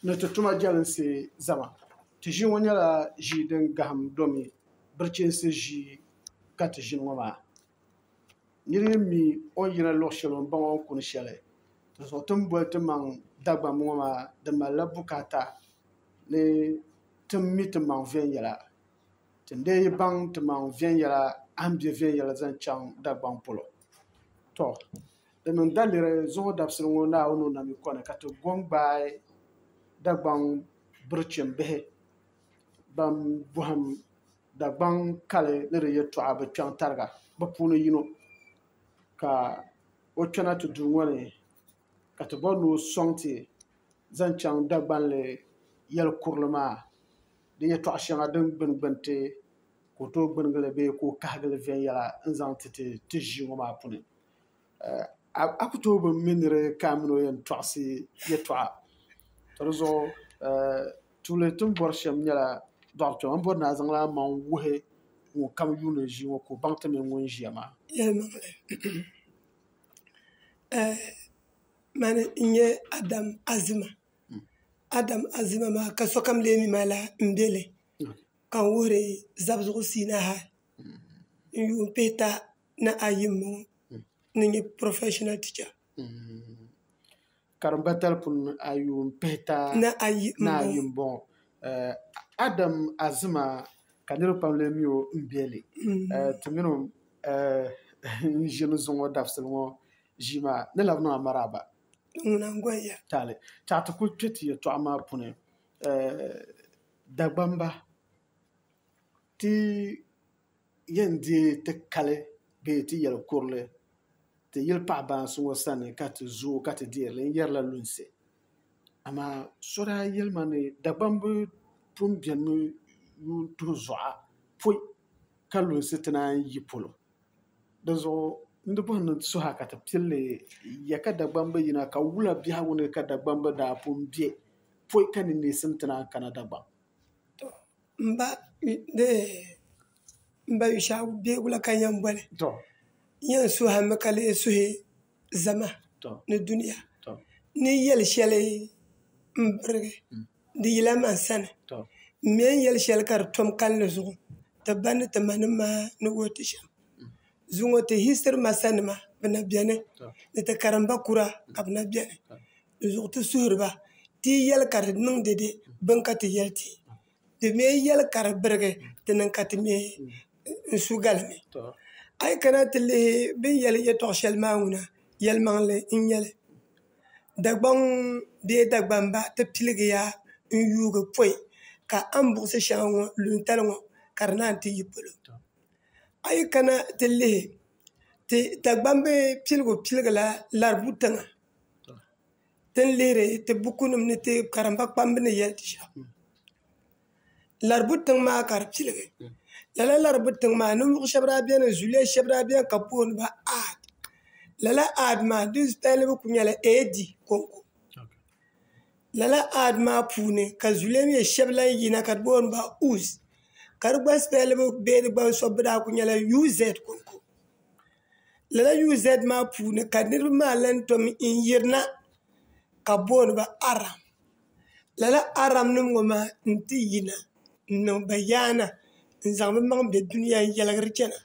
ni ti tuma jɛlinsi zama. Ti ʒii ŋɔ nyɛla ʒii din gahim domi birichinsi ʒii ka ti ʒini ŋɔ maa. Nir yi mi o ni yina luɣ shɛli o ni baŋ o ni kuni shɛli, dinzuɣu ti ni boli ti maŋ Dagbamba ŋɔ maa di malila bukaata ni ti mi ti maŋ viɛnyɛla. Ti ni lee yi baŋ ti maŋ viɛnyɛla a ni be viɛnyɛla zaŋ chaŋ Dagbaŋ polo. Tɔ! Di niŋ daliri zuɣu dabisili ŋɔ Naawuni o nami kɔni ka ti go n-gbaai Dagbaŋ birichimbihi bɛn bɔhim Dagbaŋ kali ni di yɛtɔɣa bi kpɛŋ tariga bi puuni yino ka o kpɛna ti duu ŋɔ ni ka ti bɔri ni o sɔŋ ti zaŋ chaŋ Dagbanli yɛli kurili maa di yɛtɔɣ shɛŋa din gbuni gbuni ti ka o tooi gbunigili bee ka o kahigili viɛnyɛla n-zaŋ ti ti ʒii ŋɔ maa puuni. a ku tooi bi mi ni di kaai mini o yɛn tɔɣisi yɛtɔɣa ka di zuɣu tuuli ti ni bɔri shɛm nyɛla dɔɣi kpɛma o ni bɔri ni a zaŋla amaŋ wuhi ŋun kam yuuni ʒii ŋɔ ka o baŋ ti mini ŋun ʒiya maa yɛlimaŋli mani n-nyɛ Adam Azima Adam Azima maa ka sokam leei mi ma lala m-be li ka n wuhiri zabizuɣu siinahi n yuun pihi taha ni ayi n bɔŋɔ ni n nyɛ professional teacher. Karimba talipuni ni a yuun pihi taha ni ayi n bɔŋɔ Adam Azima ka niriba pam lee mi o n bɛ li ti mini o n ʒini zuŋɔ dabisili ŋɔ ʒii maa ni labi niŋ a maraaba tali ka ti kuli kpɛ ti yɛltɔɣa maa puuni Dagbamba. Ti yɛn deei ti kali bee ti yɛli kurili ti yili paɣ baansi ŋɔ sani ka ti zooi ka ti deeri li n-yɛrila lunsi. Amaa so daa yɛli ma ni Dagbam bi pun benimi yuun tuhi zuɣa pɔi ka lunsi ti naan yi polo. Dinzuɣu n di bɔhi ni n ti suhi a ka ti pili li ya ka Dagbam bi yina ka wula biɛhigu ni ka Dagbam bi daa pun be pɔi ka ni neesim ti naan kana Dagbam. N ba Yushɛɣu beebu la ka n yɛn boli n yɛn suhimi ka lee suhi zama ni dunia ni yɛli shɛli n birigi di yila man sani n mi n yɛli shɛli ka di tom kalinli zuɣu ti ba ni ti ma nim maa ni wuhiti shɛm zuŋɔ ti history master nima bi na bɛni ni ti karimba kura ka bi na bɛni di zuɣu ti suhuri ba ti yi yɛli ka di niŋdi bini ka ti yɛli ti di mii yɛli ka di birigi di niŋ ka ti mii n su gali ni a yi kana ti lihi bi ni yɛli yɛltɔɣa shɛli maa ŋuna yɛlimaŋli n nyɛli dagbaŋ bee dagbamba ti piligiya n yuugi pɔi ka a ni buɣisi shɛŋa ŋɔ luŋtali ŋɔ ka di naan ti yi polo a yi kana ti lihi ti dagbamb piligu piligi la laribu tiŋa ti ni lihiri ti bukunima ni ti karimba kpamba ni yɛli ti shɛm Laribu tiŋ maa ka di piligi lala Laribu tiŋ maa ninvuɣ shɛba daa beni zuliya shɛba daa beni ka bɛ booni ba aad lala aad maa di spɛllibu kuli nyɛla AD kɔŋko lala aad maa puuni ka zuliya mi shɛba lan yina ka bɛ booni ba Uz ka di gba spɛllibu bee di gbaŋ sobibu daa kuli nyɛla UZ kɔŋko lala UZ maa puuni ka niraba maa lahi tom n yirina ka bi booniba aram lala aram nim ŋo maa n ti yina n niŋ bayaana n zaŋ bi maŋ bɛ duniya n yɛligiri chɛna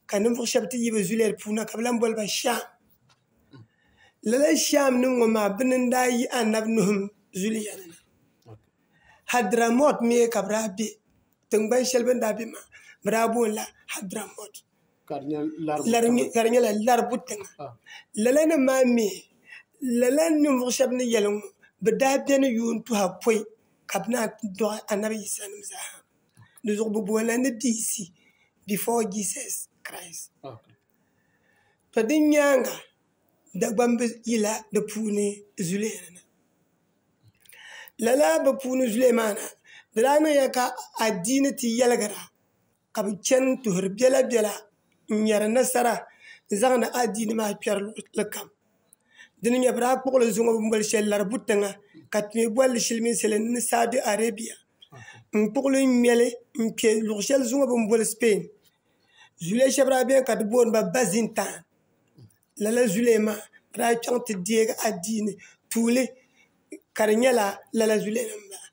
ka ninvuɣu shab ti yi bi zulɛt puuni na ka bi lahi boliba sham lala sham nim ŋo maa bini n daa yi anabi nuh zuliya ni na hadramot mii ka bi daa bɛ tingbani shɛli bi ni daa bɛ maa bi daa boonila hadramot ka di nyɛla laribu tiŋa lala nim maa mii lala ninvuɣu shab ni yɛli ŋɔ bi daa biɛni yuun tuha pɔi ka bi naan ti dɔɣi anabi yisa nim zaa ha dinzuɣu bi boonila ni BC before Jesus Christ ka di nyaanga Dagbamb bi yila di puuni zuli lala bi puuni zuli maa na di daa niŋya ka adiini ti yɛligira ka bi chɛni n tuhuri biɛla biɛla n nyɛri nasara n zaŋdi adiini maa kpɛri luɣuli kam dini n nyɛ bi daa kpuɣili zuŋɔ bi ni boli shɛli laribu tiŋa ka bi mii bolili silimiinsi ni saudi arabia n kpuɣili n ŋmɛli n kpɛ luɣu shɛli zuŋɔ bi ni boli spain zuliya shab daa biɛni ka bi booniba bazinta lala zulema n daa chaŋ ti deegi adiini tuuli ka di nyɛla lala zulema n bala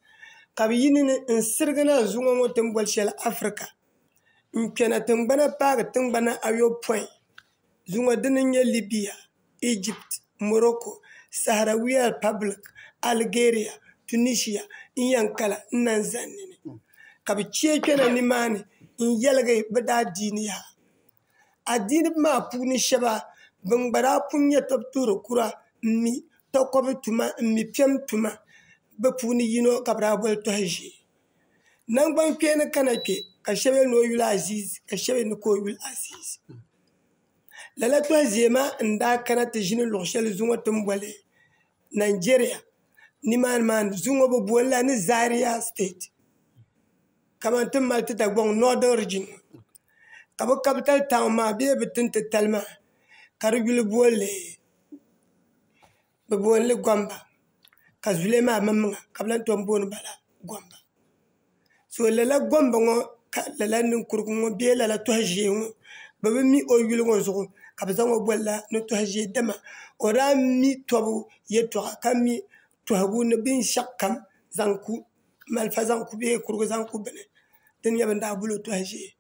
ka bi yi ni ni n sirigi na zuŋɔ ŋɔ ti ni boli shɛli afirika n kpɛna tingbana paagi tingbana ayopɔin zuŋɔ dini n nyɛ libiya ijip mɔrɔko saharawiya ripablik aligeeriya tunishiya n yɛn kala n na zani ni ka bi chaɛ kpɛna nimaani n yɛligi bi daadiini yaha adiiniba maa puuni shɛba ban gba daa pun nyɛ tɔbu tuhiri kura m-mi takɔbi tuma m-mi piɛm tuma bɛ puuni yino ka bɛ daa boli tɔha ʒee naŋgbankpeeni ka na kpe ka shɛba yɛli ni o yuli aziizi ka shɛba yɛli ni ka o yuli aziizi lala tɔha ʒee maa n-daa kana ti ʒini luɣ' shɛli zuŋɔ ti ni boli Nigeria nimaani maa zuŋɔ bɛ boli la ni Zaria state kamani ti ni mali ti Dagbaŋ Northern Region ka bi capital town maa bee bi tin titali maa ka di yuli bolli bi bolli Gomba ka zulɛ maa maŋmaŋa ka bi lahi tom booni bala Gomba so lala Gomba ŋo ka lala ninkurigu ŋo bee lala toha ʒiɛ ŋo bi bi mi o yuli ŋo zuɣu ka bi zaŋ o bolila ni toha ʒiɛ dama o daa mi tobu yɛltɔɣa ka mi tɔhigu ni binshɛɣukam zaŋ ku malifa zaŋ ku bee kurigu zaŋ ku bini din nyɛ bin daa boli o tɔhi ʒee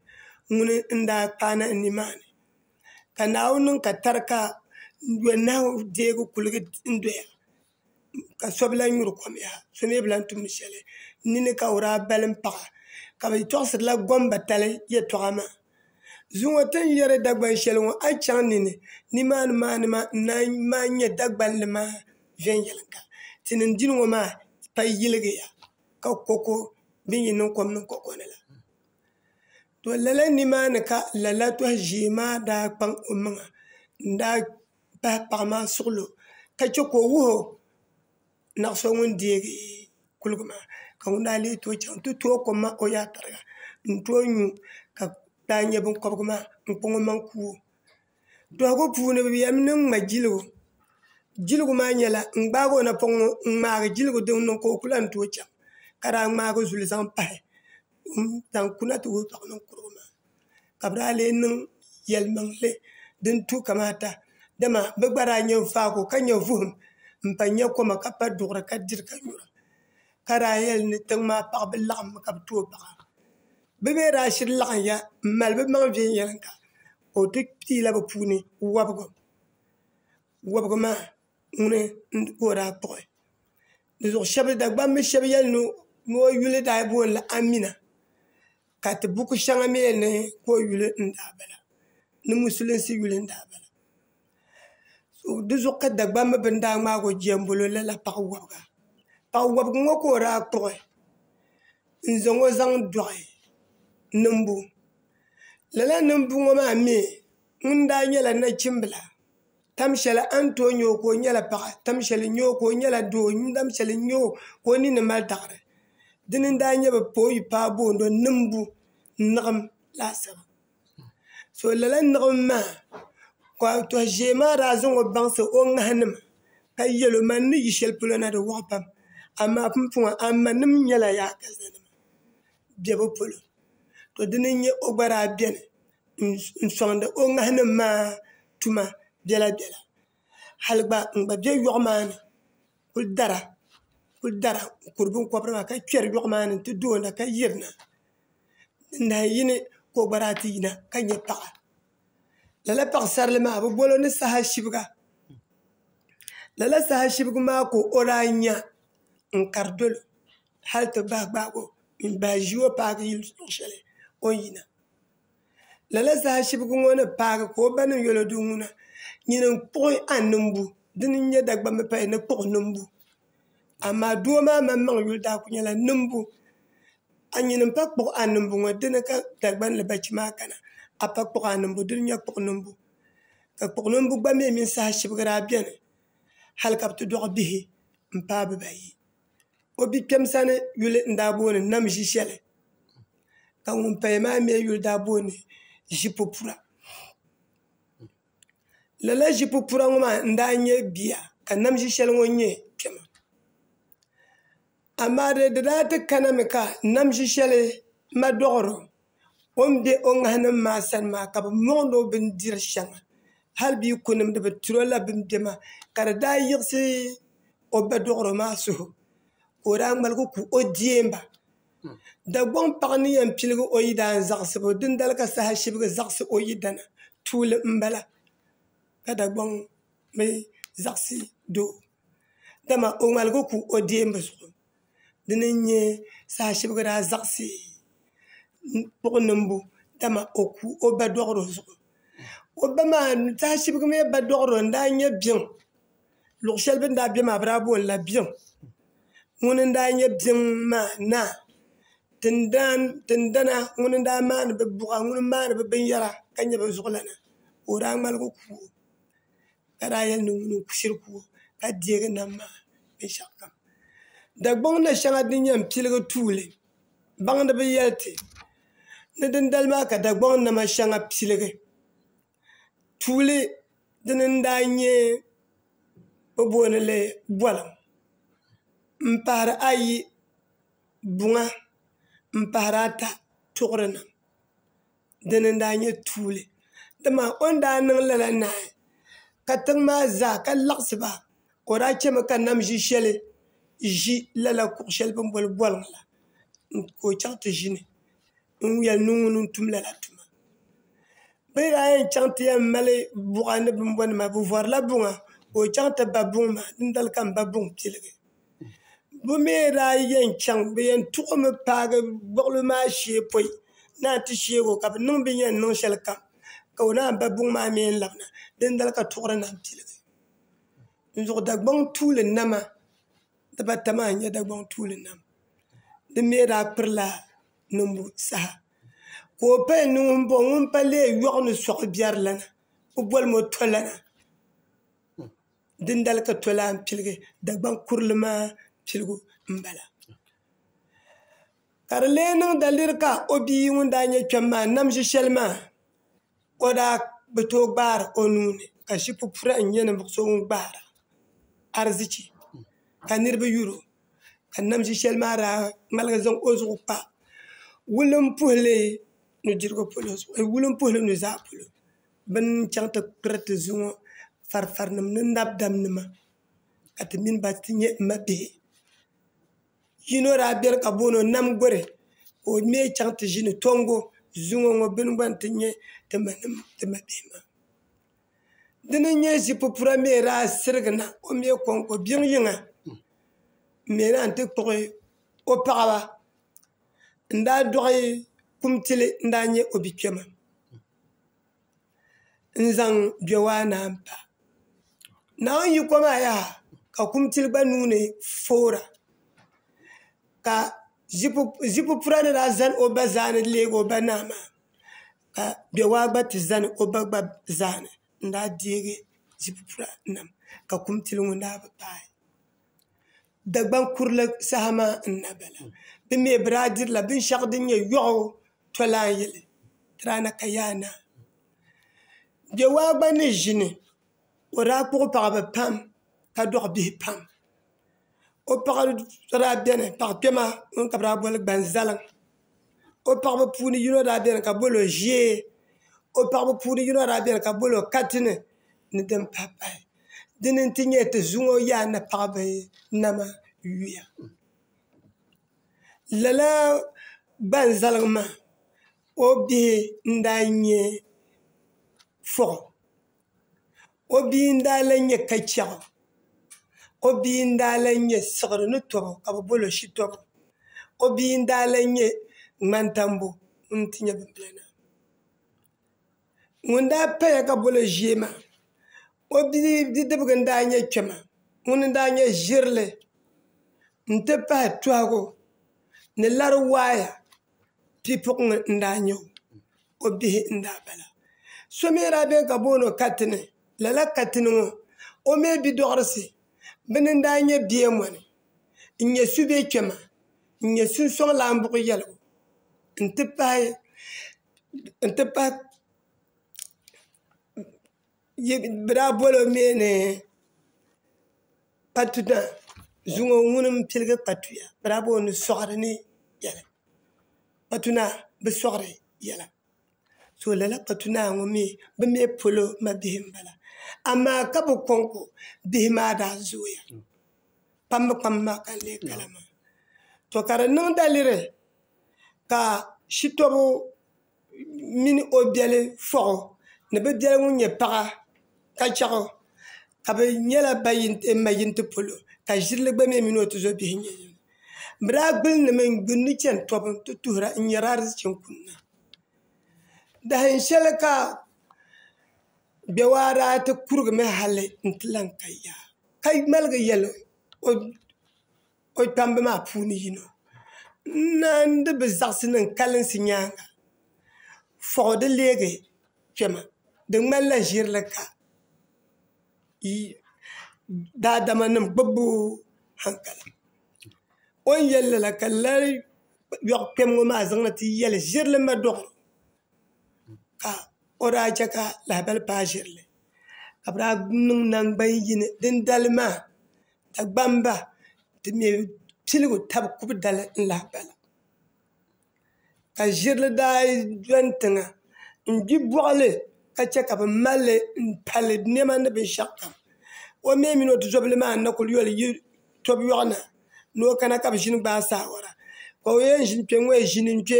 ŋuni n daa kpaai nahi nimaani ka Naawuni niŋ ka tari ka yɔnahu deei kuligi n doya ka so bi lahi nyuri kɔm yaha so mi bi lahi tumdi shɛli nini ka o daa balim paɣa ka bi tɔɣisiri la gombatali yɛltɔɣa maa. Zuŋɔ ti ni yɛri Dagban shɛli ŋɔ a yi chaŋ ni ni nimaani maani maa n na maa n nyɛ Dagbanli maa viɛnyɛlinga ti ni n dini ŋɔ maa pay yiligiya ka ko ko din yɛn niŋ kom niŋ ko ko ni la to lala nimaani ka lala tɔhi ʒiɛ maa daa kpaŋ o maŋa n daa pahi paɣa maa suɣilo ka chɛ ka o wuhi o naɣa so ŋun deegi kuliga maa ka ŋun daa lee tooi chaŋ n ti tooi kom maa o yaɣa tariga n tooi nyu ka daa nyɛ binkobgi maa n kpaŋ o maŋ kuuo duɣugu puuni bi yɛlimi niŋ ŋma jiligu jiligu maa nyɛla n gbaagi o napoŋ ŋo n ŋmaagi jiligu din niŋ ka o ku lahi ni tooi chɛŋ ka daa ŋmaagi zuli zaŋ pahi n zaŋ kuna ti wuhi paɣa ninkurigu maa ka bi daa lee niŋ yɛli niŋli din tu kamata dama bi gba daa nyɛ faaku ka nyɛ vuhum n pa nyɛ koma ka pa duɣuri ka diri ka nyura ka daa yɛli ni tiŋ maa paɣa bi laɣammi ka bi tooi paɣa bi mii daa shiri laɣamya n mali bi maŋ viɛnyɛlinga ka o ti piila bi puuni wobigi wobigi maa ŋuni n ka o daa kpuɣi Dagbambi shab yɛli ni o yuli daa booni la Amina ka ti buku shɛŋa mi ni ko yuli n daa bala ni musulinsi yuli n daa bala di zuɣu ka Dagbaŋ mi bini daa ŋmaagi o jɛmbolo lala paɣa wɔbiga paɣa wɔbiga ŋɔ ka o daa kpuɣi n zaŋ o zaŋ dɔɣi niŋbu lala niŋbu ŋɔ maa mi ŋun daa nyɛla nachimbila tam shɛli a ni tooi nyɛ o ka o nyɛla paɣa tam shɛli n nyɛ o ka o nyɛla doo tam shɛli n nyɛ o ka o ninni mali daɣari dini n daa nyɛ bi pa o yuli paai booni niŋbu niɣim laasabu so lala niɣim maa ka toha ʒiɛ maa daa zaŋ o baŋsi o ŋaha nima ka yɛli o man ni yi shɛli polo na di waɣa pam amaa pumpɔŋɔ a ma nim nyɛla yaakaligu biɛbu polo to dini n nyɛ o gba daa biɛni n soŋdi o ŋahi nim maa tuma biɛla biɛla hali gba n gba bɛ yoɣu maa ni kuli dara kuli dara n kuri binkobiri maa ka kpɛri yoɣu maa ni n ti doona ka yirina n nahi yini ka o gba daa ti yina ka nyɛ paɣa lala paɣasarili maa bi bolo ni saha shibga lala saha shibgi maa ka o daa nya n kari dolo hali ti bahi gbaagi o n bahi ʒi o paagi yili luɣu shɛli o ni yina lala zaashibigi ŋo ni paagi ka o ba niŋ yɛlo duu ŋo na nyini n kpuɣi a nimbu dini n nyɛ Dagban bi paya ni kpuɣi nimbu amaa doo maa maŋmaŋ yuli daa kuli nyɛla nimbu a nyini n pa kpuɣi a nimbu ŋo dini ka Dagban ni bachɛ maa kana a pa kpuɣi a nimbu dini n nyɛ kpuɣi nimbu ka kpuɣi nimbu gba mii mini saha shibigi daa biɛni hali ka bi ti dogbi bihi n paai bibayi o bi'kpɛm sani yuli n daa booni nam zi shɛli ka ŋuni paya maa mi yuli daa booni zi popura lala zi popura ŋɔ maa n daa nyɛ bia ka nam zi shɛli ŋɔ nyɛ kpɛma amaa di daa ti kana mi ka nam zi shɛli ma dɔɣiri o. O ni be o ŋahinim maa sani maa ka bɛ mɔŋdi o bindiri shɛŋa hali bɛ yi ku nimdi bɛ ti o la bɛ ni be maa ka di daa yiɣisi o ba dɔɣiro maa suhu ka o daa ŋmaligi ku o deemba Dagbaŋ paɣa ni yɛn piligi o yidana zaɣisibu dindali ka saha shibigi zaɣisi o yidana tuuli m-bala ka Dagbaŋ mi zaɣisi doo dama o ŋmaligi ku o deemba zuɣu. di ni nyɛ saha shɛbigi daa zaɣisi kpuɣi niŋbu dama o ku o ba dɔɣiro zuɣu o ba maa saha shɛbigi mi ba dɔɣiro n-daa nyɛ biɛŋ luɣ' shɛli bɛ ni daa be maa bɛ daa booni la biɛŋ ŋuni n-daa nyɛ biɛŋ maa naa tindana ŋuni n-daa maani bɛ buɣa ŋuni m-maani bɛ binyɛra ka nyɛ bɛ zuɣulana ka o daa ŋmaligi ku o ka daa yɛli ni ŋuni n shiri kuugi ka deegi nam maa binshɛɣu kam dagbaŋ na shɛŋa din yɛn piligi tuuli baŋ di bi yɛli ti ni din dali maa ka dagbaŋ nama shɛŋa piligi tuuli dini n daa nyɛ bi booni li boliŋ n pahari ayi buŋa n pahari ata tuɣuri na dini n daa nyɛ tuuli dama o ni daa niŋ lala naai ka tiŋ maa zaa ka laɣasi ba ka o daa chɛmi ka nam ʒiɛ shɛli ʒi lala kuɣu shɛli bi ni boli boliŋ la ka o chɛŋ ti ʒini n yɛli ni ŋuni n tum lala tuma bi ni daa yɛn chɛŋ ti yɛn mali buɣa ni bin bɔni maa bi vɔrila buŋa ka o chɛŋ ti ba buŋ maa dindali ka n ba buŋ piligi bi mii daa yɛn chɛŋ bi yɛn tuɣumi paagi gbuɣuli maa shee pɔi ni a ti sheeg o ka bi niŋ bi ni yɛn niŋ shɛli kam ka o naan ba buŋ maa mii labina dindali ka tuɣuri na piligi dinzuɣu dagbaŋ tuuli nama dibata maa n nyɛ dagbaŋ tuuli nama di mii daa pirila niŋbu saha ka o payali ni ŋuni n bɔŋɔ ŋun pa lee yɔɣu ni soɣu biɛri la na bi boli mi o tɔlana dindali ka tolaani piligi dagban kurili maa piligu n bala ka di lee niŋ da liri ka o bia ŋun daa nyɛ kpɛm maa nam ʒi shɛli maa o daa bi tooi gbaari o nuuni ka ship pura n nyɛ ninvuɣu so ŋun gbaara arizichi ka niraba yuro ka nam ʒi shɛli maa daa ŋmaligi zaŋ o zuɣu kpa wulin puhuli nuzaa polo bi ni chɛŋ ti kpiri ti zuŋɔ farifarinima ni nabidamnima ka ti mini ba ti nyɛ mabihi yino daa beni ka bɛ booni o Namguri ka o mi chaŋ ti ʒini Tɔngo zuŋɔ ŋɔ bɛ ni gba ni ti nya ti mabihi maa di ni nyɛ ʒipupura mi daa sirigi na o mi kɔŋko biŋ yiŋa m-mi lan ti kpuɣi o paɣiba n-daa dɔɣi kumtili n-daa nyɛ o bikpɛma n zaŋ bɛ waa naa n pa naa n yi ko maa yaha ka kumtili gba nuuni foora ka zipu pura ni daa zani o ba zaa ni leegi o ba naa maa ka bɛ waa gba ti zani o ba gba zaa ni n daa deegi zipu pura niŋ ka kumtili ŋun daa bi paai Dagbaŋ kurili saha maa n na bala. Bɛ mi bi daa dirila binshɛɣu din nyɛ yɔɣu tɔlan yili Tirana ka yaa naa. Bɛwaa gba ni ʒini o daa kpuɣi paɣaba pam ka dɔɣi bihi pam. O paɣa so daa beni paɣ kpɛma ŋun ka bɛ daa boli Gbanzaliŋ. o paɣaba puuni yino daa biɛni ka bolo ʒiɛ o paɣaba puuni yino daa biɛni ka bolo katini ni din pahi pahi dini n ti nyɛ ti zuŋɔ yaa ni paɣaba nama yuya lala ban zaligi maa o bihi n daa nyɛ fɔɣu o bia n daa lahi nyɛ ka chɛɣu o bia n daa lahi nyɛ siɣiri ni tɔbu ka bi bolo shitɔbu o bia n daa lahi nyɛ ŋmani tambu ŋuni n ti nyɛ bin bala maa ŋun daa paya ka bi bolo ʒiɛ maa o bia bidibgi n daa nyɛ kpɛma ŋuni n daa nyɛ ʒirili n ti pahi tuhagu ni lari waaya pipuɣ ŋɔ n daa nyɛ o o bihi n daa bala so mii n daa biɛni ka booni katini lala katini ŋɔ o mii bidɔɣurisi bini n daa nyɛ bia mɔni n nyɛ subɛ kpɛma n nyɛ sunsɔŋlan buɣu yɛligu n ti pahi bi daa bolo mii ni patuna zuŋɔ ŋuni n piligi patuya bi daa booni soɣari ni biɛla patuna bi soɣari yɛla so lala patuna ŋɔ mii bi mii polo mabihi n bala amaa ka bi kɔŋko bihi maa daa zooya kpambi kpambi maa ka n lee kala maa to ka di niŋ daliri ka shitɔbu mini o biɛli fɔɣu ni bi biɛli ŋun nyɛ paɣa ka chɛɣu ka bi nyɛla ban maʒini ti polo ka ʒirili gba mii mini o tuzo bihi nyɛ yini bi daa guli nimi n gbuni ni chɛni tobu n ti tuhura n nyɛri ariziki n kunna dahin shɛli ka gbɛwaaraa ti kurigimi hali n ti lahi ka yaha ka ŋmaligi yɛli o o kpamba maa puuni yino n naandi bi zaɣisi niŋ kalinsi nyaanga fɔɣi di leegi kpɛma di ŋmanila ʒirili ka daadama nim gbubbu hankali o ni yɛli lala ka lala yɔɣu kpɛm ŋɔ maa zaŋ na ti yɛli ʒirili madɔɣu ka o daa chɛ ka lahibali paai ʒirili ka bi daa niŋ nangban yini din dali maa Dagbamba ti me piligu tabi kubu dali n lahi bala ka ʒirili daa dɔni tiŋa n gbi bɔɣili ka che ka bɛ malli m pali nɛma ni binshɛɣu kam o mi mini o tizobili maa n na kuli yoli yi tobu yɔɣu na ni o kana ka bɛ ʒini gbaai saawara ka o yɛn ʒini kpe ŋɔ maa ʒini n kpe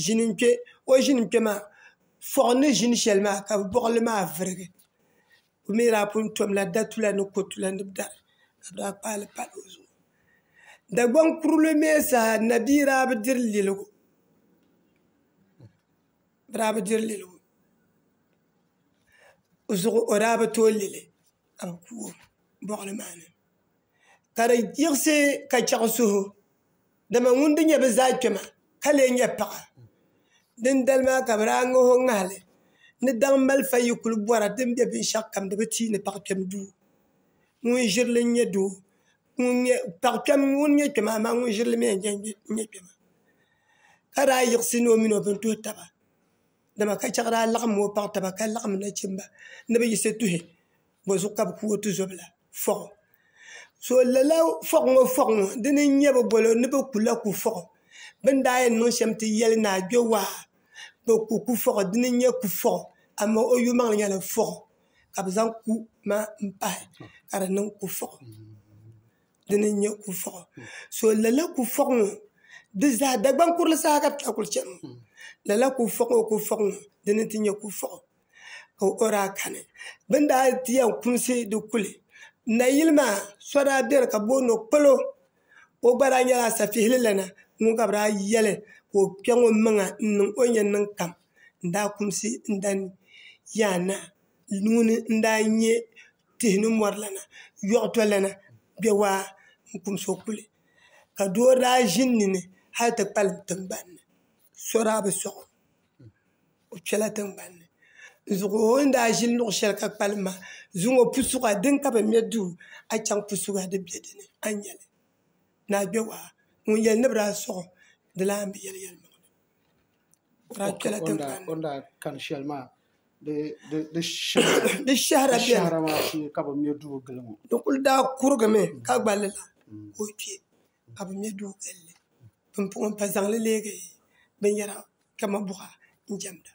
ʒini n kpe o ʒini n kpe maa fɔɣi ni ʒini shɛli maa ka bɔɣili maa virigi. o mi daa pun tɔmla datula ni kɔtula ni dari ka bɛ daa kpaali pali o zuɣu Dagbaŋ kurili mi zaa nabia daa bi diri liligu bɛ daa bi diri liligu zuɣu o daa bi tooi lili ka bɛ ku o bɔɣili maa ni ka di yiɣisi ka chɛɣu suhu Dama ŋun di nyɛ bi zaa kpɛma ka lee nyɛ paɣa, dindali maa ka bɛ daa ŋah o ŋahili ni daŋ malifa yi kul bɔra din be binshɛɣukam di bi ti yi ni paɣ kpɛm duu. Ŋun ʒiri li n-nyɛ doo, paɣ kpɛm ŋun nyɛ kpɛma amaa ŋun ʒiri li mi n-nyɛ kpɛma, ka daa yiɣisi ni o min o bini tuhi taba. dama ka chɛ ka daa laɣam ŋɔ paɣa taba ka laɣam nachimba ni bi yiɣisi tuhi bozuɣu ka bi ku o tuzobila fɔɣu so lala fɔɣu ŋɔ fɔɣu ŋɔ dini n nyɛ bi bolo ni bi kula ku fɔɣu bin daa yɛn niŋ shɛm ti yɛli ni a kpɛ waa bi ku ku fɔɣu dini n nyɛ ku fɔɣu amaa o yuli maŋli nyɛla fɔɣu ka bi zaŋ ku maa n pahi ka di niŋ ku fɔɣu dini n nyɛ kuliƒɔɣu so lala kuliƒɔɣu ŋɔ di zaa Dagban kurili zaa ka bɛ kuli chɛni ŋɔ lala kuliƒɔɣu kuliƒɔɣu ŋɔ dini n ti nyɛ kuliƒɔɣu ka o daa kani bɛ ni daa ti yɛn kumisi di kuli nayili maa so daa bɛni ka bɛ booni o kpalo o gba daa nyɛla asafihili lana ŋun ka bɛ daa yɛli ka o kpɛ ŋɔ n maŋa n niŋ o ni yɛn niŋ kam n daa kumisi n dani yaana ŋuni n daa nyɛ tihi ni mori lana yoɣu to lana bɛ waa n kumsi o kuli ka doo daa ʒi n nini hali ti kpalim tingbanni so daa bi soɣo o kpɛla tingbanni zuɣu o ni daa ʒini luɣu shɛli ka kpalim maa zuŋ o pusuɣa dini ka bi mɛ duu a chaŋ pusuɣa di bɛ dinni a ni nyɛli ni a kpɛ waa ŋun yɛli ni bi daa soɣo di lan bi yɛli yɛlimaŋli o ni daa kani shɛli maa di shɛhira shee ka bi mɛ duu gili ŋɔ di kuli daa kurigimi ka gba lala ka o kpɛ ka bi mɛ duu gilli din puuni n pa zaŋli leegi binyɛra kamani buɣa n chɛŋla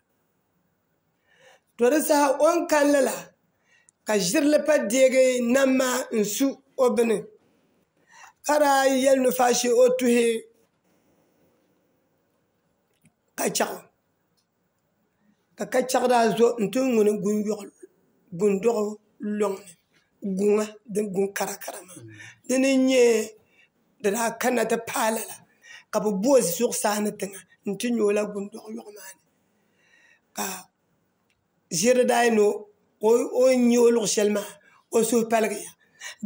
to di saha o ni kani lala ka ʒirili pa deegi nam maa n su o bini ka daa yɛli ni faashɛ o tuhi kachaɣu ka kachaɣu daa zo n ti ŋuni gundoɣu loŋni guŋa din guŋ karakara maa dini n nyɛ di daa kanna ti paai lala ka bi bo zuɣusaa ni tiŋa n ti nyo la gundoɣu loŋ maa ni ka ʒiri daa yɛn ni o nya o luɣ shɛli maa o suhu paligiya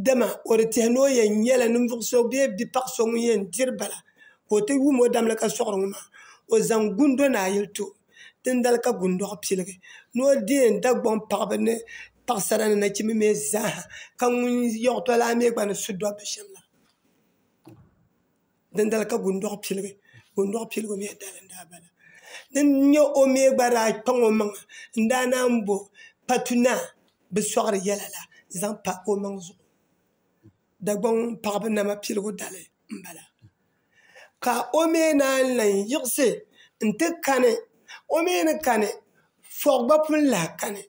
dama o di tiɛhi ni o yɛn nyɛla ninvuɣ so bee bipaɣ so ŋun yɛn diri bala ka o ti wum o damli ka sɔɣiri ŋɔ maa o zaŋ gundo naa yuli ti o dindali ka gundɔɣu piligi ni o di yɛn Dagbaŋ paɣiba ni paɣisara ni nachimba mi zaa ha ka ŋun yiɣi tɔlana mi gba ni su dɔbba shɛm la Dindali ka Gundoɣu piligi Gundoɣu piligu mii dali n daa bala din nyɛ o mii gba daa kpaŋ o maŋa n daa naan bo patu naa bi soɣari yɛla la zaŋ pa o maŋ zuɣu Dagbaŋ paɣaba nama piligu dali n bala ka o mii naan lahi yiɣisi n ti kani o mii ni kani fui gba pun lahi kani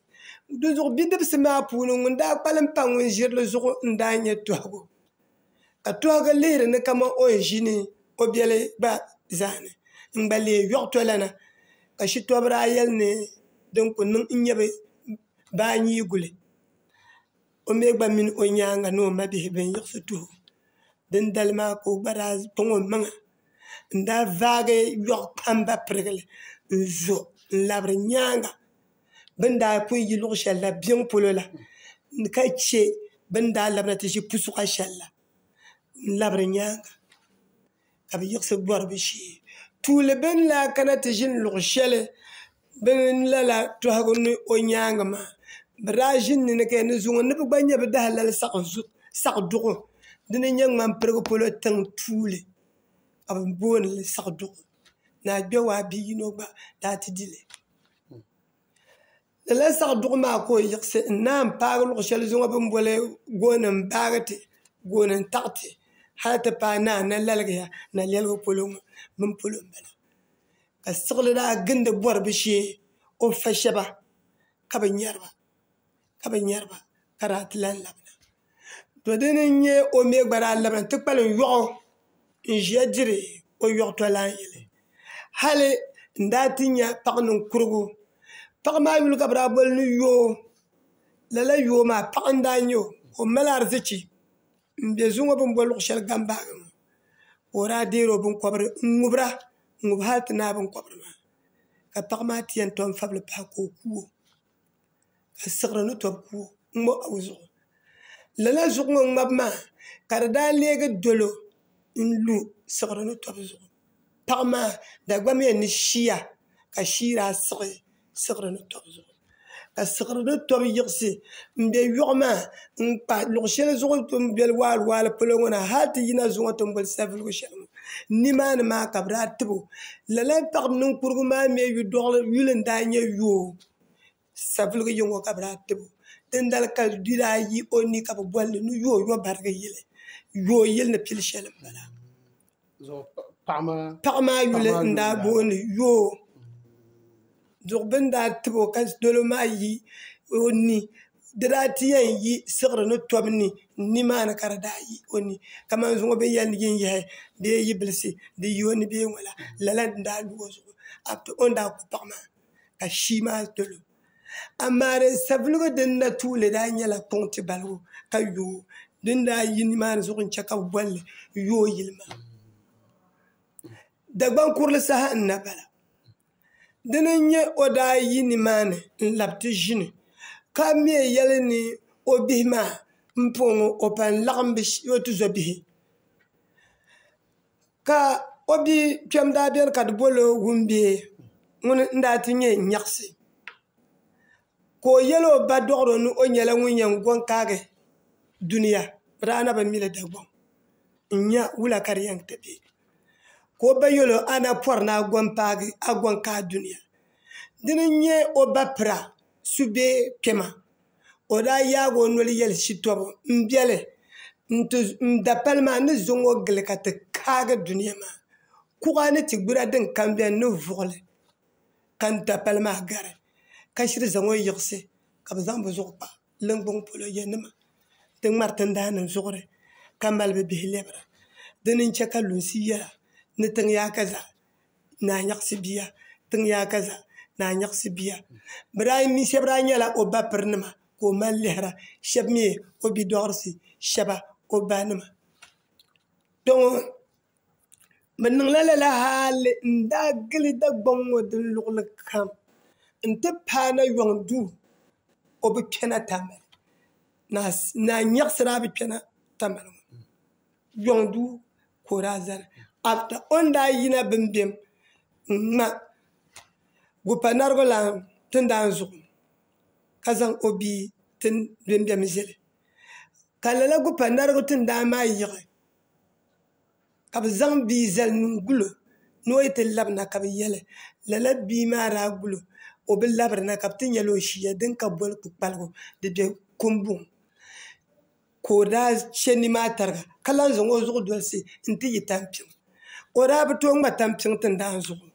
dinzuɣu bidibsi maa puuni ŋun daa kpalim pa ŋun ʒirili zuɣu n daa nyɛ Tuhigu ka tɔhigi lihiri ni kamani o yɛn ʒini o biɛli gba zaa ni n-gba leei yɔɣ tolana ka shitɔbiri daa yɛli ni din kuli niŋ n-nyɛ bɛ baa n-yii guli o mi gba mini o nyaaŋa ni o mabihi bɛn yiɣisi tuhi o dindali maa ka o gba daa kpaŋ o maŋa n-daa vaagi yɔɣ kpamba pirigili n-zo n-labiri nyaaŋa bin daa pun yi luɣ shɛli na biɛŋ polo la, ka chɛ bɛ ni daa labina ti ʒi pusuɣa shɛli la n-labiri nyaaŋa, ka bɛ yiɣisi bɔri bɛ shee. Tuuli bɛ ni lahi kana ti ʒini luɣ shɛli bɛ ni lala tɔhigu ni o nyaaŋa maa, bɛ daa ʒini ni ni ka yɛn ni zuŋɔ ni bɛ gba nya bɛ dahalali saɣiduɣu dini n-nyɛ ŋmampirigu polo tiŋ tuuli ka bɛ booni li saɣiduɣu. Ni a Kpewaa bi' yino gba daa ti di li. Lala zaɣ duɣu maa ka o yiɣisi n naan paagi luɣu shɛli zuŋu bi ni boli gooni n baagi ti gooni n taɣi ti hal ti paai ni a na laligiya nalɛligu polo ŋɔ bini polo n bala ka siɣili daa gindi bɔri bi shee o ni fa shɛba ka bi nyɛri ba ka bi nyɛri ba ka daa ti lahi labina to dini n nyɛ o mii gba daa labina ti kpalim yoɣu n ʒiya diri o yoɣu tolana yɛli hali n daa ti nyɛ paɣa ninkurigu paɣa maa yuli ka bi daa boli ni yoo lala yoo maa paɣa n daa nyɛ o ka o mali ariziki n bɛ zuŋɔ bi ni boli luɣu shɛli ganbaagi ŋɔ ka o daa deeri o binkobiri n ŋubira n ŋubi hali ti naai binkobiri maa ka paɣa maa ti yɛn tom fabili pahi ka o kuo asiɣiri ni tɔbu ku o ŋ-ŋɔ a o zuɣu lala zuɣu ŋɔ ŋmabu maa ka di daa leegi dolo n-lu siɣiri ni tɔbu zuɣu paɣa maa Dagbaŋ yɛn ni shia ka shia daa siɣi siɣiri ni tɔbu zuɣu ka siɣiri ni tɔbu yiɣisi m-be yɔɣu maa n-kpa luɣ' shɛli zuɣu bɛ ni boli waaliwaali polo ŋɔ na hali ti yina zuŋɔ ti ni boli savelugu shɛli ŋɔ nimaani maa ka bɛ daa tib o lala paɣ' ninkurugu maa mi yidɔɣili yuli n-daa nyɛ yoo Savelugu yiŋɔ ka bɛ daa tibo. Dindali ka di daa yi o ni ka bɛ boli li ni yooyobarigi yili. Yooyili ni pili sheli m bala. Paɣa maa yuli n daa booni yoo. Duɣi bini daa tibo ka dolo maa yi o ni. Di daa ti yen yi siɣiri ni tobu ni n ni maa ni ka di daa yi o ni. Kaman zuŋɔ bini yen yi n yehi bee yi bilisi di yi o ni bee ŋɔ la lala n daa lu o zuɣu after o ni daa ku paɣa maa. ka shii maa dolo amaa din savelugu din na tuuli daa nyɛla kpaŋti balibu ka yooi din daa yi nimaani zuɣu n chɛ ka bɛ bolli yooi yili maa Dagbaŋ kurili saha n na bala dini n nyɛ o daa yi nimaani n labi ti ʒini ka mɛ yɛli ni o bihi maa m po ŋɔ o pun laɣim o tizɔbihi Ka o bia kpɛm daa beni ka di bol o wumbee ŋuni n-daa ti nyɛ nyaɣisi. Ka o yɛl o ba dɔɣiro ni o nyɛla ŋun yɛn gɔŋ kaagi dunia, bɛ daa na bi mi li Dagbaŋ n-nya wula ka di yɛn ti be. Ka o ba yɛl o, A na pɔri ni a gɔŋ paagi, a gɔŋ kaai dunia. Dini n-nyɛ o ba pira subee kpɛma. o daa yaagi o noli yɛli shitɔbu n biɛli n dapali maa n ni zaŋ o gili ka ti kaagi dunia maa kuɣa ni ti gbira din kam biɛni ni vuɣuli ka n dapali maa gari ka shiri zaŋ o yiɣisi ka bi zaŋ bi zuɣu kpa ninvuɣu polo yɛ nima ti ŋmari tindaa nim zuɣuri ka mali bi bihi lɛbira dini n chɛ ka lunsi yɛra ni tiŋ yaai ka zaa naa nyaɣisi bia tiŋ yaa ka za naa nyaɣisi bia bɛ daa mi shɛba daa nyɛla o ba pirinima ka o mali lihira shɛba mi o bidɔɣirisi shɛba o ba nima kpe ŋɔ bɛ niŋla lala hali n daa gili Dagbaŋ ŋɔ din luɣuli kam n ti paai na yuŋ duu o bi kpɛna Tamale naa nyaɣisi daa bi kpɛna Tamale yɔŋ du ka o daa zali after o ni daa yina bimbim n ŋma gupanaribilan tindan zuɣu ka zaŋ o bia tin bimbim zili ka lala gupanaribi tindan maa yiɣi ka bi zaŋ bia zali n gulo ni o yi ti labina ka bi yɛli lala bia maa daa gulo o bi labirina ka bi ti nyɛla o ʒiya din ka boli kpukpaligu di bɛ kumbuni ka o daa chɛ nimaani tariga ka lahi zaŋ o zuɣu dolisi n ti yi tampiŋ o daa bi tooi ŋma tampiŋ tindan zuɣu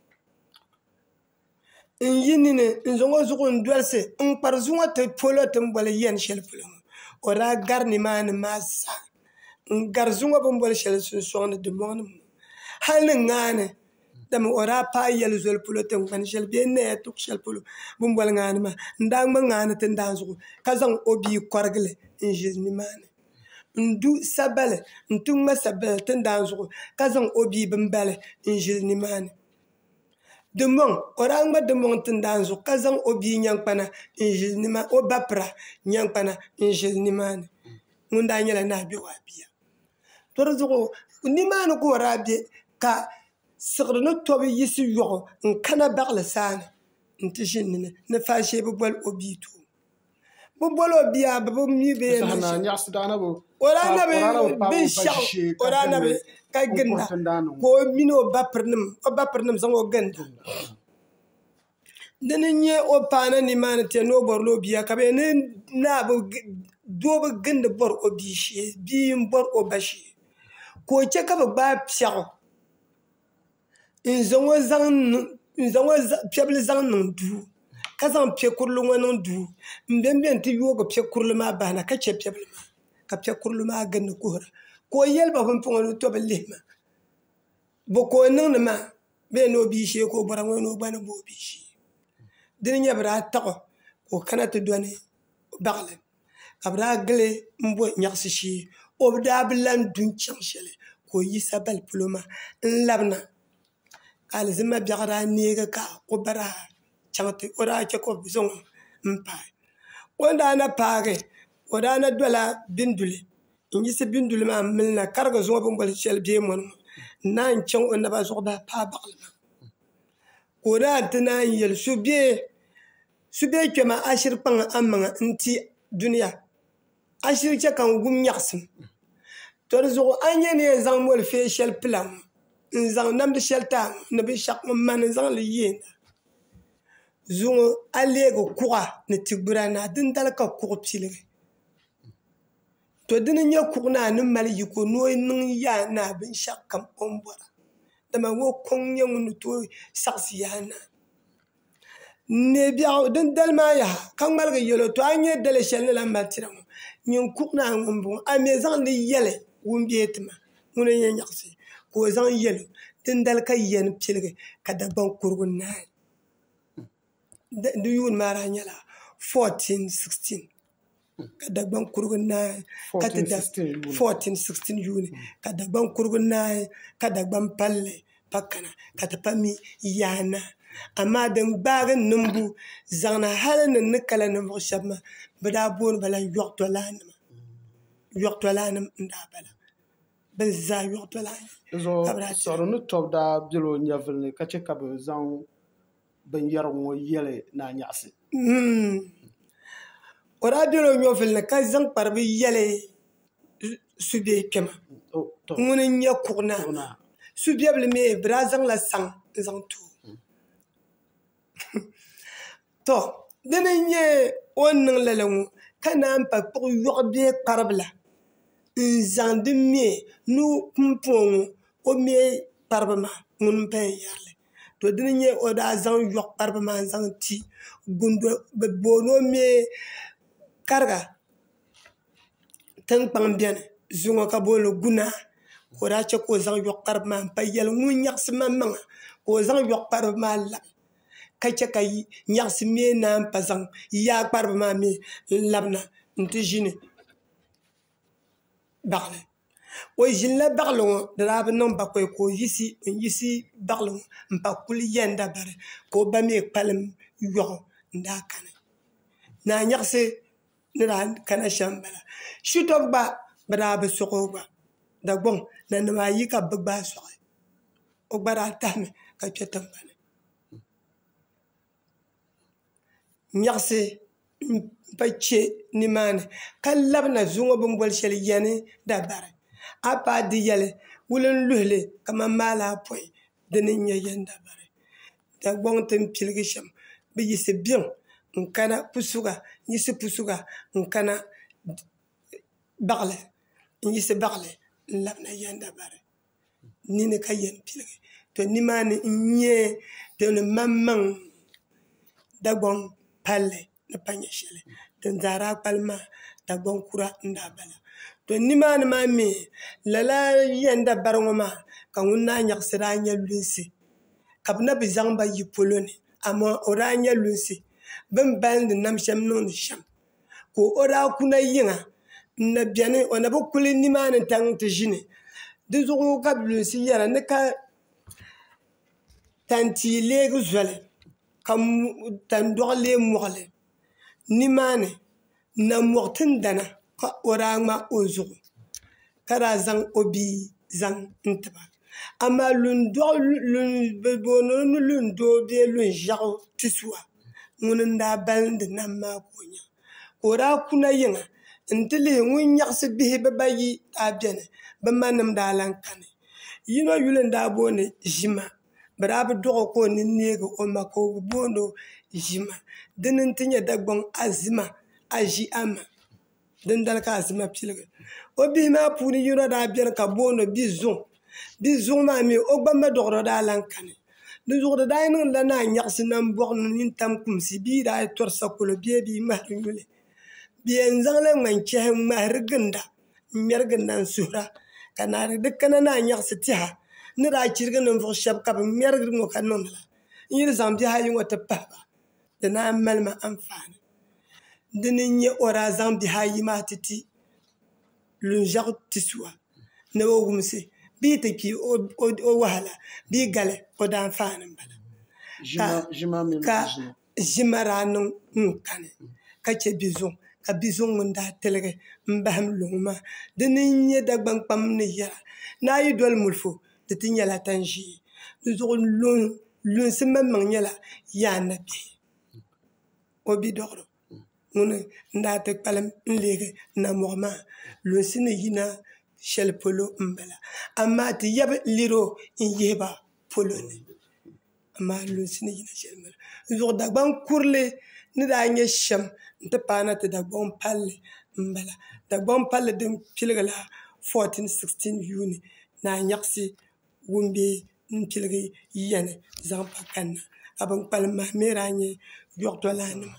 n yi nini n zaŋ o zuɣu n dolisi n kpari zuŋɔ ti polo ti ni boli yɛn shɛli polo ŋɔ o daa gari nimaani maa zaa n gari zuŋɔ bi ni boli shɛli sunsoŋni dimoŋ ni ŋɔ hali ni ŋaani Dama o daa paai yɛli zoli polo tiŋkpani shɛli bee naya tuɣu shɛli polo bi ni boli ŋaani maa n daa ŋma ŋaani tindaa zuɣu ka zaŋ o bia kɔrigili n ʒili nimaani n du sabali n ti ŋma sabali tindaa zuɣu ka zaŋ o bia bimbala n ʒili nimaani dimbɔŋ o daa ŋma dimbɔŋ tindaa zuɣu ka zaŋ o bia nyaŋ kpana n ʒili nimaani o ba pira nyaŋ kpana n ʒili nimaani ŋun daa nyɛla naa bɛ waa bia to di zuɣu nimaani ka o daa bɛ ka siɣiri ni tobu yisi yoɣu n kana baɣali saa ni n ti ʒini ni ni faa shee bi boli o bia too bi bol o bia bi bi mii bi yɛn niŋ shɛm o daa na bi binshaɣu o daa na bi ka ginda ka o mini o ba piri nim zaŋ o ginda Dini n nyɛ o paana nimaani tɛ ni o bɔrila o bia ka bɛ ni naa bi doo bi gindi bɔri o bia shee bia n bɔri o ba shee ka o chɛ ka bi gbaai piɛɣu n zaŋ o piɛ bili zaŋ niŋ duu ka zaŋ piɛ kurili ŋɔ niŋ duu n bɛn bɛni ti yoogi piɛ kurili maa bahana ka chɛ piɛ bili maa ka piɛ kurili maa gindi kuhira ka o yɛli ba bin pɔŋɔ ni o tobi lihi ma bo ka o niŋdi maa bɛ ni o bia shee ka o bɔra ŋɔ ni o gba ni bo o bia shee di ni nyɛ bi daa taɣi o ka o kana ti dɔni baɣali ka bi daa gili n bɔ nyaɣasi shee o daa bi lahi du n chaŋ shɛli ka o yisa bali polo maa n labina ka alizama biɛɣu daa neegi ka o ba daa chaŋ ti o daa chɛ ka o zaŋ o paai o ni daa na paagi o daa na dola binduli n yiɣisi binduli maa n milina ka di gba zuŋɔ bini boli shɛli deemoni ŋɔ n naan chaŋ o naba zuɣu baa paai baɣali maa ka o daa ti naan yɛli su bee kpɛma a shiri kpaŋ a maŋa n ti dunia a shiri chɛ ka n wum nyaɣasim to di zuɣu a ni nyɛ ni yɛn zaŋ moli fee shɛli pila ŋɔ n zaŋ namdi shɛli ti a ŋɔ ni binshaɣu ŋun mani n zaŋli yeen zuŋɔ a leegi kuɣa ni ti gbira na dindali ka kuɣu piligi To dini n-nyɛ kuɣ naa ni mali yiko ni o niŋ yaa naa binshɛɣukam o ni bɔra dama o kɔŋ n-nyɛ ŋun ni tooi saɣisi yaa naa neebiɛɣu din dali maa yaha ka ŋmaligi yɛl o tɔ a ni nyɛ daliya shɛli ni lan mali tira ŋɔ nyin kuɣ naa ŋɔ m-bɔŋɔ a mi zaŋ li yɛli ŋun be ti ma ŋun o yɛn nyaɣisi ka o zaŋ yɛl o dindali ka yiya ni piligi ka Dagbaŋ kurugu naai di yuuni maa daa nyɛla 1416 ka Dagbaŋ kurugu naai ka ti da 1416 yuuni ka Dagbaŋ kurugu naai ka Dagbaŋ palli pa kana ka ti pa mi yaha na amaa din gbaagi niŋbu zaŋna hali ni ni kala ninvuɣu shɛba maa bɛ daa booni ba la yɔɣitɔlanima yɔɣitɔlanim n-daa bala bɛ zaa yɔɣitɔlanima ka bɛ daa chaŋ di zuɣu Siɣiri ni Tɔbu daa bela o nyɛvili ni ka che ka bɛ zaŋ binyɛra ŋɔ yɛli ni a nyaɣisi. O daa bela o nyɔvili ni ka zaŋ kparibu yɛli Subiɛ kpɛma ŋuni n-nyɛ Kuɣunaa. Subiɛbili mi bɛ daa zaŋla saŋ n-zaŋ ti o. Tɔ! Dini n-nyɛ o ni niŋ lala ŋɔ ka naan pa kpuɣi yɔɣu bee kparibila n-zaŋ di me ni o pumpɔŋɔ o me kparibu maa ŋuni m-paya yɛri li. to dini n nyɛ o daa zaŋ yoɣu kparibu maa n zaŋ ti kundo bi booni o mii kariga tinkpaŋ biɛni zuŋɔ ka booni guna ka o daa chɛ ka o zaŋ yoɣu kparibu maa n pa yɛli ŋun nyaɣasi maŋmaŋa ka o zaŋ yoɣu kparibu maa labi ka chɛ ka nyaɣasi mii naan pa zaŋ yaa kparibu maa mii n labina n ti ʒini baɣali o ʒinila baɣali ŋo di daa bi niŋ bakoy ka o yiɣisi n yiɣisi baɣali ŋo n pa kuli yɛnda bari ka o ba mii kpalim yoɣu n daa kani naa nyaɣasi ni daa kana shɛm n bala shito gba bi daa bi soɣi o gba dagbaŋ nanim ayi ka bi gbaai soɣi o gba daa tahami ka kpɛ tingbani nyaɣasi n pa chɛ nimaani ka labina zuŋɔ bini boli shɛli yɛni dabari a yi paai di yɛli wuli n luhili kamani maalaapɔi dini n nyɛ yɛni dabari dagbaŋ ti ni piligi shɛm bi yiɣisi biɛŋ n kana pusuga n yiɣisi pusuga n kana baɣali n yiɣisi baɣali n labina yɛni dabari ni ni ka yɛn piligi to nimaani n nyɛ din maŋmaŋ Dagbaŋ palli ni pa nyɛ shɛli din daa daa kpali maa Dagbaŋ kura n daa bala to nimaani maa mii lala yɛn da bari ŋɔ maa ka ŋun naa nyaɣasi daa nyɛ lunsi ka bi na bi zaŋba yi polo ni amaa o daa nyɛ lunsi bin balindi nam shɛm niŋdi shɛm ka o daa ku na yiŋa n na biɛni o na bi kuli nimaani n tiɛhi ti ʒini dinzuɣu ka bi lunsi yɛra ni ka tantia leegi zoli ka tandoɣu lee moɣali nimaani n na moɣi tingbana ka o daa ŋma o zuɣu ka daa zaŋ o bia zaŋ ti ba amaa bi booni o ni luŋ doo bee luŋ ʒiɛɣu ti suwa ŋuni n daa balindi nam maa ka o nya ka o daa kuna yiŋa n ti lihi ŋun nyaɣasi bihi bibayi daa biɛni bi ma nim daa lahi kani yino yuli n daa booni ʒima bi daa bi doɣi o ka o nini neegi o ma ka o bi booni o ʒima dini n ti nyɛ dagbaŋ azima a ʒi a ma dindali ka azima piligi o bihi maa puuni yino daa biɛni ka bi booni bia zuŋ bia zuŋ maa mii o gba ma doɣano daa lahi kani dinzuɣu di daa niŋdila naa n nyaɣasi nanbɔɣu ni nini tam kumsi bia yi daa tɔri sakolo bee bia ŋmahari yuli bi yɛn zaŋla ŋmani chɛhi n ŋmahari ginda n ŋmɛri ginda n suhura ka naa di di kana naa nyaɣasi tiɛha ni daa chirigi ninvuɣu shab ka bi ŋmɛrigi ŋɔ ka niŋdi ba n yi ni zaŋ bihi ayi ŋɔ ti pahaba di naan mali ma anfaani di ni n nyɛ o daa zaŋ bihi ayi maa ti ti Lunʒiɛɣu Tisuwa ni o wumsi bɛ yi ti kpi o wahala bɛ yi gali o daanfaani n bala ka ʒima daa niŋ ŋun kani ka chɛ bia zuŋu ka bia zuŋu ŋun daa tiligi n bahim luŋ maa di ni n nyɛ Dagbani kpam ni yɛra ni a yi doli mulifu di ti nyɛla tani ʒee di zuɣu lunsi maŋmaŋ nyɛla yaa ni bɛ o bidɔɣiri ŋuni n daa ti kpalim n leegi namɔɣu maa lunsi ni yina shɛli polo n bala amaa ti yabi lɛro n yihi ba polo ni. amaa lunsi ni yina shɛli maa n zuɣu dagbaŋ kurili ni daa nyɛ shɛm n ti paai na ti dagbaŋ palli n bala dagbaŋ palli din piligila 14 16 yuuni ni a nyaɣasi ŋun bɛ n piligi yiya ni zaŋ pa kanna ka bin kpalim maa n daa nyɛ doɣatɛ lan nima